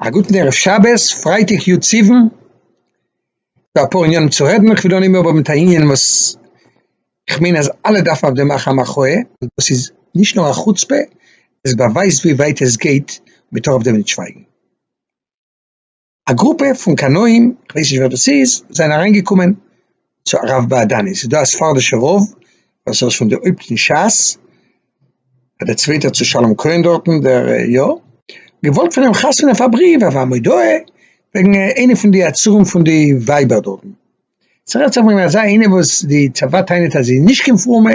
א גוטן ערב שבת, פרייטאג י' סיוון, אפאר עניינים צו רעדן, איך וויל אנהייבן אבער מיט א ענין וואס איך מיין אז אלע דארפן אויף דעם מאכן א מחאה, און דאס איז נישט נאר א חוצפה, עס באווייזט ווי ווייט עס גייט, מען טאר אויף דעם נישט שווייגן. א גרופע פון קנאים, איך ווייס נישט ווער דאס איז, זענען אריין געקומען צו הרב בעדני, ס'איז דא א ספרדישע רב וואס ער איז פון די הויפט אין שס, דער צווייטער צו שלום כהן דארטן, דער יא, געוואלט פון אים חתונה אויף א בריוו אויף א מודעה וועגן איינע פון די עצורים פון די ווייבער דארטן, ס'רעדט זיך וועגן אזא איינע וואס די צבא טענה'ט אז זי איז נישט קיין פרומע,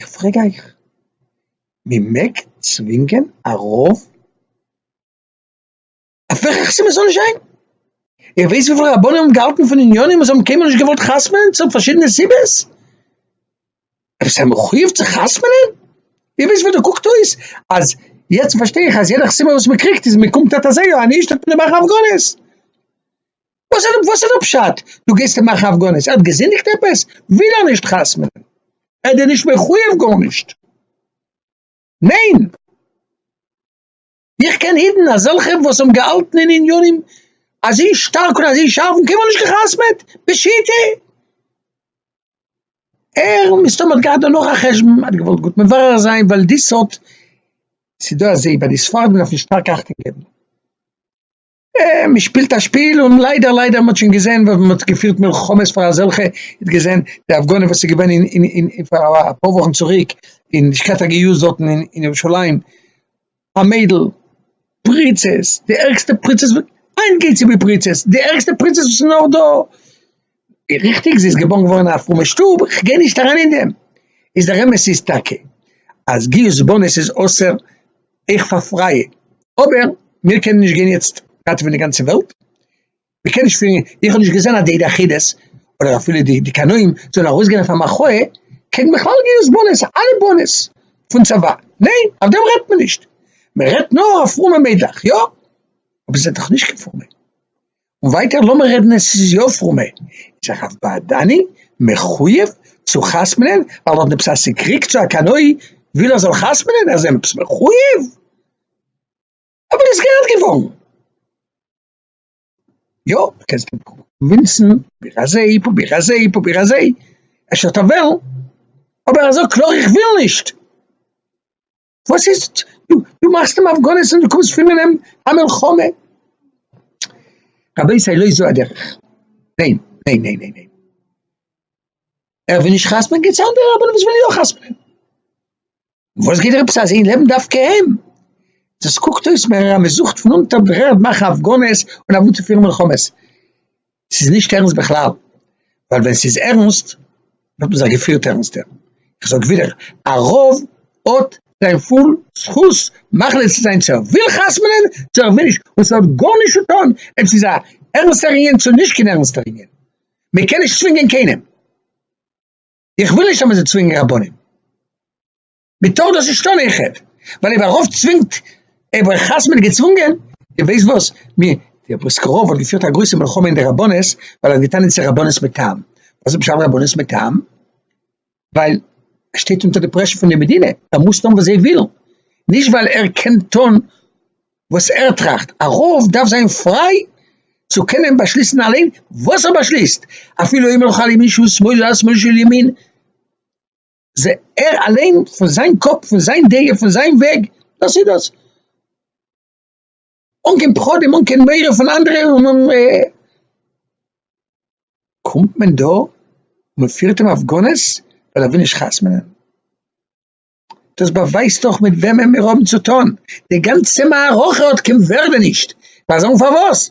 איך פרעג אייך, מען מעג צווינגען א רב אויף וועלכע חתונה ס'זאל נישט זיין? איר ווייסט וויפיל רבנים האבן געהאלטן פון עניינים און זיי האבן קיינמאל נישט געוואלט חתמ'נען צוליב פארשידענע סיבות? אויב זיי מחויב צו חתמ'נען? איר ווייסט וויאזוי קוקט אויס אז יעצט פארשטיי איך אז יעדע חתימה וואס מען קריגט איז מען קומט אט אזוי אן איש טוט מען אים מאכן הפגנות. וואס איז וואס איז די פשט דו גייסט אים מאכן הפגנות ער האט געזינדיגט עפעס? וויל ער נישט חתמ'נען? ער איז דיר נישט מחויב גארנישט? ניין! איך קען אידן אזעלכע וואס האבן געהאלטן אין עניינים אזוי שטארק און אזוי שארף און קיינמאל נישט גע'חתמ'עט! בשיטה! ער מסתמא האט געהאט דא נאך א חשבון ער האט געוואלט גוט מברר זיין ווייל די סארט ס'דא אזוי ביי די ספרדים דארף מען שטארק אכטונג געבן. מען שפילט א שפיל און ליידער ליידער מען האט שוין געזען ווען מען האט געפירט מלחמות פאר אזעלכע, מען האט געזען די הפגנה וואס איז געווען אין פאר אפאר וואכן צוריק אין לשכת הגיוס דארטן אין ירושלים, א מיידל, פריצות, די ערגסטע פריצות, היינט גייט צו די פריצות, די ערגסטע פריצות וואס איז נאר דא, ריכטיג זי איז געבארן געווארן אין א פרומע שטוב, איך גיי נישט אריין אין דעם, איז דער אמת איז טאקע אז גיוס בנות איז אסור אויך פאר פרייע, אבער מיר קענען נישט גיין יעצט ראטעווען די גאנצע וועלט, מען קען נישט פירן, איך האב נישט געזען אז די יחידות אדער אפילו די קנאים זאלן ארויסגיין אויף א מחאה קעגן בכלל גיוס בנות, אלע בנות פון צבא, ניין אויף דעם רעדט מען נישט, מען רעדט נאר אויף פרומע מיידלעך יא, אבער זיי זענען דאך נישט קיין פרומע, און ווייטער לאמיר רעדן עס איז יא פרומע איז א חב ד'ני מחויב צו חתמ'נען ווייל ער האט עפעס א סיקריק צו א קנאי וויל ער זאל חתמ'נען אז ער עפעס מחויב אבער איז גערעכט געווארן יא קענסט אים קווינסן פרוביר אזוי פרוביר אזוי פרוביר אזוי אפשר וועט ער וועלן אבער ער זאגט קלאר איך וויל נישט. וואס איז דו דו מאכסט אים הפגנות און דו קומסט פון אן א מלחמה, רבותי לא זו הדרך, ניין ניין ניין ניין ניין, ער וויל נישט חתמ'ען געבטס אנדערע רבנים וואס ווילן יא חתמ'ענען, וואס גייט דיר עפעס אז זיי לעבן דווקא אים, דאס קוקט אויס מער אז מען זוכט פון אונטערגרונד מאכן הפגנות און אוועקפירן מלחמות. ס'איז נישט ערנסט בכלל, ווייל ווען ס'איז ערנסט וואלט מען זיך געפירט ערנסטער. איך זאג ווידער, א רב האט זיין פול זכות מחליט צו זיין צו ער וויל חתמ'נען צו ער וויל נישט, און ס'האט גארנישט צו טון אויב ס'איז א ערנסטער ענין צו נישט קיין ערנסטער ענין, מען קען נישט צווינגען קיינעם, איך וויל נישט אז מען זאל צווינגען רבנים. מען טאר דאס נישט טון איך העט ווייל איבער רוב צווינגט איבער חס מיט געצוואונגען די ווייסט וואס מיר די פריסקע רוב האט געפירט א גרויסע מלחמה אין די רבנות ווייל אז געטאן אין צו רבנות מיט טעם וואס איז בשם רבנות מיט טעם ווייל ער שטייט אונטער די פרעשע פון די מדינה ער מוז טון וואס זיי ווילן נישט ווייל ער קען טון וואס ער טראכט א רוב דארף זיין פריי צו קענען באשליסן אליין וואס ער באשליסט אפילו אם לא חל ימין שהוא שמאל אז שמאל שהוא ימין זע ער אליין פון זיין קאפ פון זיין דעה פון זיין וועג דאס איז דאס, אן קיין פחדים אן קיין מורא פון אנדערע און און קומט מען דא מען פירט אים הפגנות ווייל ער וויל נישט חתמ'נען, דאס באווייזט דאך מיט וועמען מיר האבן צו טון, די גאנצע מערכה האט קיין ווערדע נישט, מיר זאגן פארוואס?